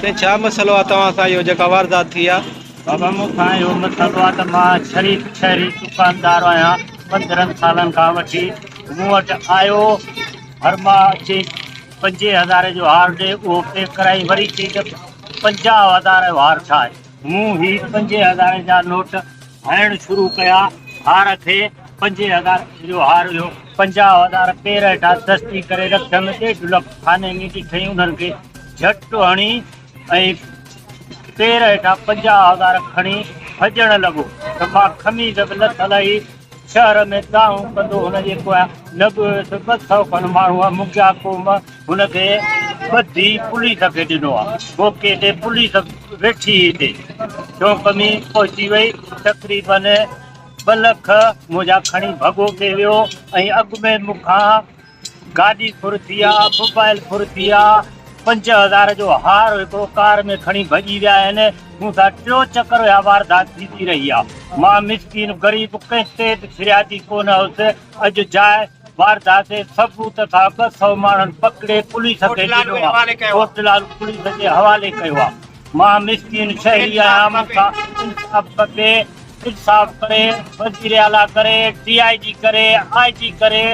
سائين ڇا مسئلو آ توهان سان اهو جيڪا واردات ٿي آ؟ بابا مون سان اهو مسئلو آ ته مان شريف شهري دڪاندار آهيان پندرهن سالن کان وٺي مون وٽ آيو هر ماهه اچي پنجين هزارين جو هار ڏي اهو پيڪ ڪرائي وري چئي ته پنجاهه هزارين جو هار ٺاهه. مون هي پنجين هزارين جا نوٽ هڻڻ شروع ڪيا. هار کي پنجين هزارين جو هار هيو. پنجاهه هزار پيرهيٽا دستي ڪري رکيم. ڏيڍ لک خاني ۾ ڏٺئي انهن کي جهٽ هڻي ۽ پيرهيٽا پنجاهه هزار کڻي ڀڄڻ لڳو ته مان خميس به لٿل هئي. شهر ۾ ڪاهون ڪندو هن جي پويان نه به هيس ٻه سؤ کن ماڻهو منگيا قوم هن کي ٻڌي پوليس کي ڏنو ها موقعي تي پوليس ويٺي هئي تي چونڪمي پهچي وئي تقريبن ٻه لک منهنجا کڻي ڀڳو تي ويو ۽ اڳ ۾ مون کان گاڏي ڦرتي آ، موبائل ڦرتي آ، پنج هزار جو هار هڪڙو ڪار ۾ کڻي ڀڄي ويا آهن، مون سان ٽيون چڪر اها واردات ٿيندي رهي آ، مان مسڪين غريب ڪنهن تي به ڦريادي ڪونه هوس، اڄ جاء واردات جي ثبوت سان ٻه سؤ ماڻهن پڪڙي پوليس کي ڏنو آ، ڪوٽ لالو پوليس جي حوالي ڪيو آ، مان مسڪين شهري آهيان مون کان انصاف کپي، انصاف ڪري وزيراعليٰ ڪري، ڊي آء جي ڪري، آء جي ڪري،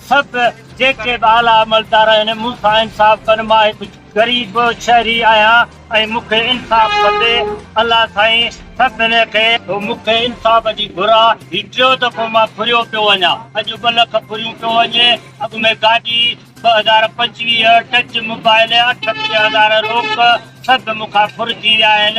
ست، جيڪي به اعليٰ عملدار آهن، مون کان انصاف ڪن، مان هڪ غريب شهري آهيان ۽ مون کي انصاف کپي. الله سائين سڀني کي. مون کي انصاف جي گهر آ، هي ٽيون دفعو مان ڦريو پيو وڃان، اڄ ٻه لک ڦريون پيو وڃي، اڳ ۾ گاڏي، ٻه هزار پنجويهه، ٽچ موبائل، اٺٽيهه هزار روڪ، سڀ مون کان ڦرجي ويا آهن.